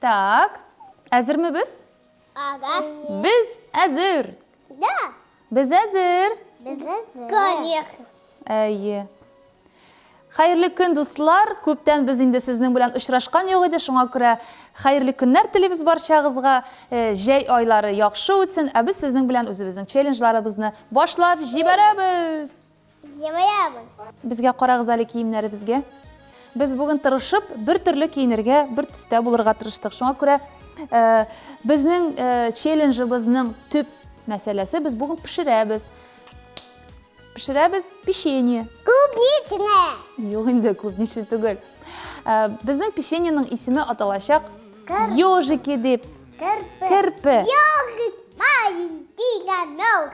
Так, әзерме без? Ага. Без әзер. Да. Без әзер. Без әзер. Конечно. Әйе. Хәерле көн, дуслар. Күптән без инде сезнең белән очрашкан юк иде. Шуңа күрә хәерле көннәр телибез барчагызга. Э, җәй айлары яхшы үтсен. Ә без сезнең белән үзебезнең челленджларыбызны башлап җибәрәбез. Где моя обувь? Безгә карагыз әле киемнәребезгә. Без бүген тырышып, бер төрле киенергә, бер төстә булырга тырыштык. Шуңа күрә э, безнең э, челленджыбызның төп мәсьәләсе без бүген пешерәбез. Пешерәбез печенье. Клубничное. Юк инде, клубничный түгел. Э, безнең печеньеның исеме аталачак Кер- ежики дип. Кирпи. Кирпе. Ёжик маленький на ног.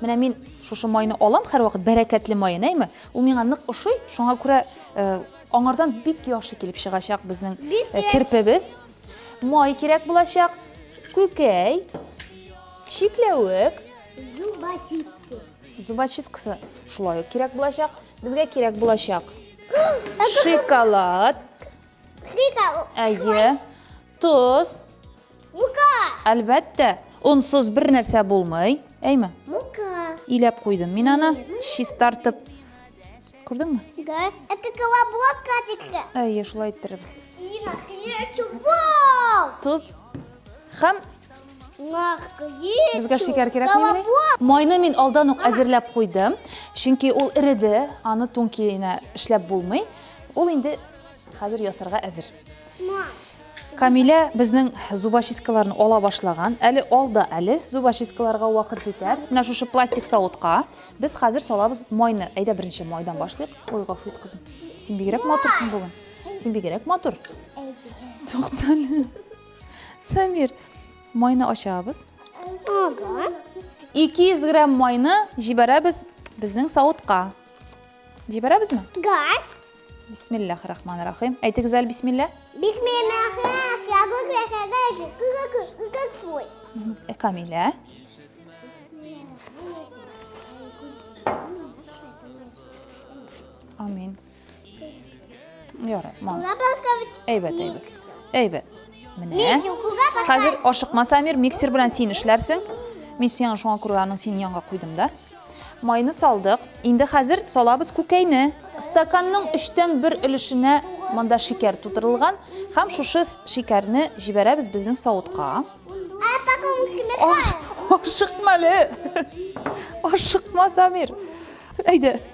Менә мин шушы майны алам һәрвакыт, бәрәкәтле майын, әйме? Ул миңа нык ошый, шуңа күрә аңардан бик яхшы килеп чыгачак безнең керпебез. Май кирәк булачак, күкәй, чикләвек. Зубочистка. Зубочисткасы шулай ук кирәк булачак. Безгә кирәк булачак шоколад. Шоколад. Әйе. Тоз. Мука. Әлбәттә, онсыз бер нәрсә булмый. Әйме? Мука. Иләп куйдым мин аны, чистартып. Күрдеңме? Да. Это колобок, Катикка. Әйе, шулай иттерербез. Ина, чубол. Тоз. Хәм Безгә шикәр кирәкмени? Майны мин алдан ук әзерләп куйдым, чөнки ул иреде, аны тун киенә эшләп булмый. Ул инде хәзер ясарга әзер. Камилә безнең зубочисткаларны ала башлаган. Әле алда әле зубочисткаларга вакыт җитәр. Менә шушы пластик савытка без хәзер салабыз майны. Әйдә беренче майдан башлыйк. Ой, гафу ит, кызым. Син бигрәк матурсың бүген. Син бигрәк матур. Туктале. Самир, майны ачабыз. Ага. 200 грамм майны җибәрәбез безнең савытка. Җибәрәбезме? Гар. Бисмиллах рахман рахим. Әйтегез әле бисмилла. Бисмиллах э, Камилә. Амин. Ярар, мам. Әйбәт, әйбәт. Әйбәт. Менә. Хәзер ашыкма, Самир, миксер белән син эшләрсең. Мин сиңа шуңа күрә аның синең янга куйдым да. Майны салдык. Инде хәзер салабыз күкәйне. Стаканның өчтән бер өлешенә монда шикәр тутырылган һәм шушы шикәрне җибәрәбез безнең савытка. Ашыкма әле. Ашыкма, Самир. Әйдә.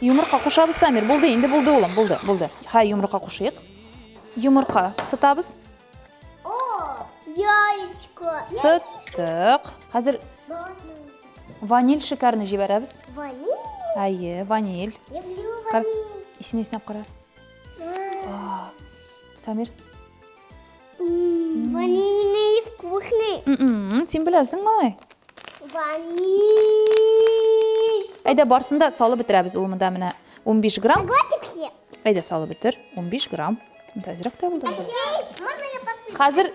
Йомырка кушабыз, Самир. Булды, инде булды, улым, булды, булды. Хай, йомырка кушыйк. Йомырка сытабыз. Яичко. Сыттык. Хәзер ваниль шикәрне җибәрәбез. Ваниль? Әйе, ваниль. Исенә-исенә кара. Самир, Ванильный вкусный. М-м, син беләсең, малай? Ваниль. Әйдә, барсын да салып бетерәбез ул монда менә 15 грамм. Глотиксе. Әйдә, салып бетер. 15 грамм. Монда әзрәк тә булды. Можно я посыпать? Хәзер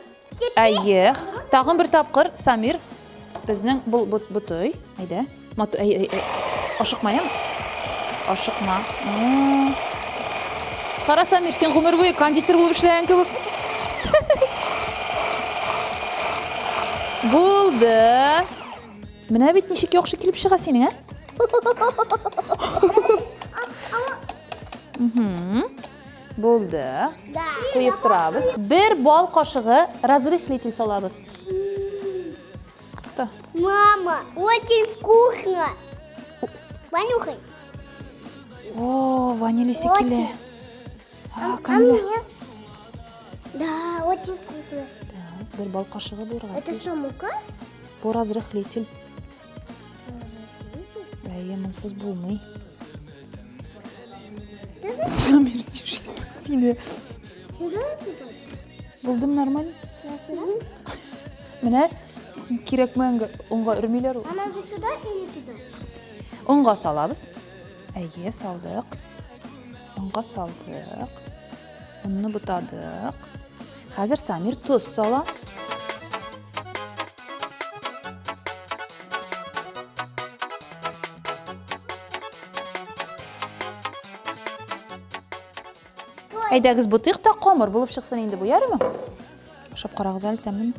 Әйе. Тагын бер тапкыр Самир безнең бу бу- бутый. Әйдә. Мату, әй, әй, әй. Ашыкма, яме? Ашыкма. Кара, Самир, син гомер буе кондитер булып эшләгән кебек. Булды. Менә бит ничек яхшы килеп чыга синең, ә? Булды. Куеп торабыз. Бер бал кашыгы разрыхлитель салабыз. Кто? Мама, очень вкусно. Понюхай. О, ванили секеле. А, а мне? Да, очень вкусно. Так, бер бал кашыгы булырга. Это что, мука? Бу разрыхлитель. Әйе, монсыз булмый. Замир, сине. Булдым нормаль. Менә кирәкмәгән онга өрмиләр ул. Ана туда или туда? Онга салабыз. Әйе, салдык. Онга салдык. Онны бутадык. Хәзер Самир тоз сала. Әйдәгез бутыйк та камыр булып чыксын инде бу, ярыймы? Ашап карагыз әле тәмлеме?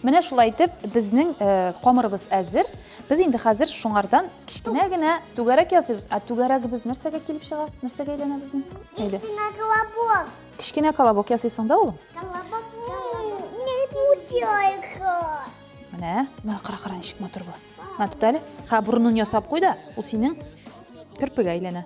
Менә шулай итеп, безнең э, камырыбыз әзер. Без инде хәзер шуңардан кечкенә генә түгәрәк ясыйбыз. Ә түгәрәгебез нәрсәгә килеп чыга? Нәрсәгә әйләнә безнең? Әйдә. Кечкенә колобок. Кечкенә колобок ясыйсың да, улым? Колобок. Не путяйка. Менә, менә кара кара ничек матур була. Менә тот әле. Ха, бурынын ясап куй да, ул синең керпегә әйләнә.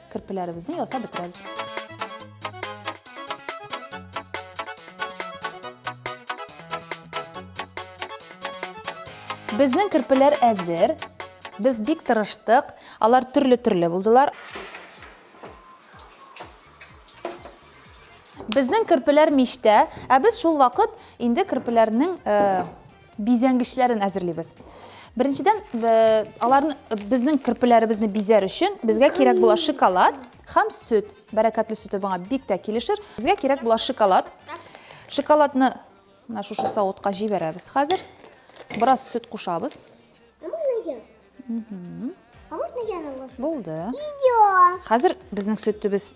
Керпеләребезне ясап бетерәбез. Безнең керпеләр әзер. Без бик тырыштык. Алар төрле-төрле булдылар. Безнең керпеләр мичтә, ә без шул вакыт инде керпеләрнең э, Бизәнгечләрен әзерлибез. Беренчедән, аларны безнең керпеләребезне бизәр өчен безгә кирәк була шоколад һәм сөт. Бәрәкәтле сөте буңа бик тә килешер. Безгә кирәк була шоколад. Шоколадны менә шушы савытка җибәрәбез хәзер. Бераз сөт кушабыз. А можно я наложу? Булды. Идео. Хәзер безнең сөттебез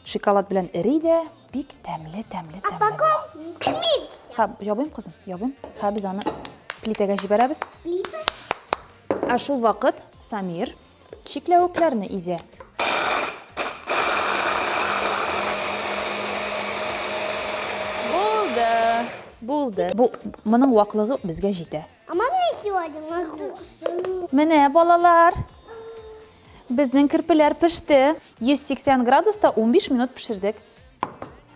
шоколад белән эри дә, бик тәмле, тәмле, тәмле. А потом клик. Ха, ябыйм кызым, ябыйм. Ха, без аны плитәгә җибәрәбез. Плита? Ә шул вакыт Самир чикләвекләрне изә. Булды. Булды. Бу моның ваклыгы безгә җитә. А можно я сегодня могу? Менә, балалар, безнең керпеләр пеште. 180 градуста 15 минут пешердек.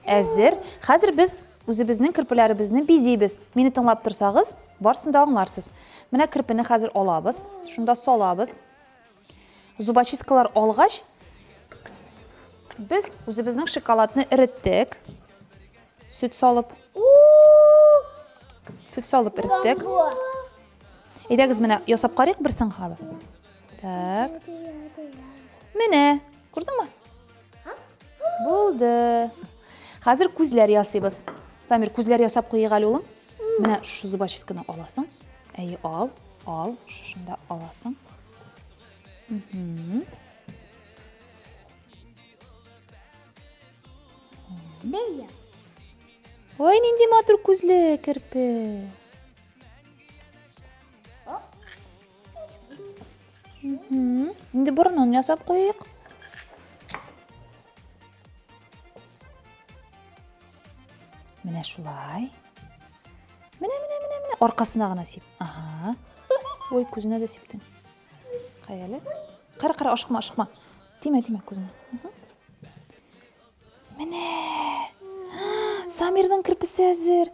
Әзер. Хәзер без үзебезнең керпеләребезне бизибез. Мине тыңлап торсагыз, барсын да аңларсыз. Менә керпене хәзер алабыз, шунда салабыз. Зубочисткалар алгач, без үзебезнең шоколадны эреттек. Сөт салып. Сөт салып эреттек. Әйдәгез менә ясап карыйк бер сынга. Так. Менә, күрдеңме? Булды. Хәзер күзләр ясыйбыз. Самир, күзләр ясап куйыйк әле, улым. Менә шушы зубочистканы аласың. Әйе, ал, ал, шушында аласың. Бәйя. Ой, нинди матур күзле керпе. Инде борынын ясап куйыйк. Менә шулай. Менә, менә, менә, менә. Аркасына гына сип. Ага. Ой, күзенә дә сиптең. Кай әле. Кара, кара, ашыкма, ашыкма. Тимә, тимә күзенә. Менә. Самирның кирпесе әзер.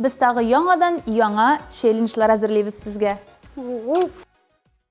Без тагы яңадан яңа челленджлар әзерлибез сезгә.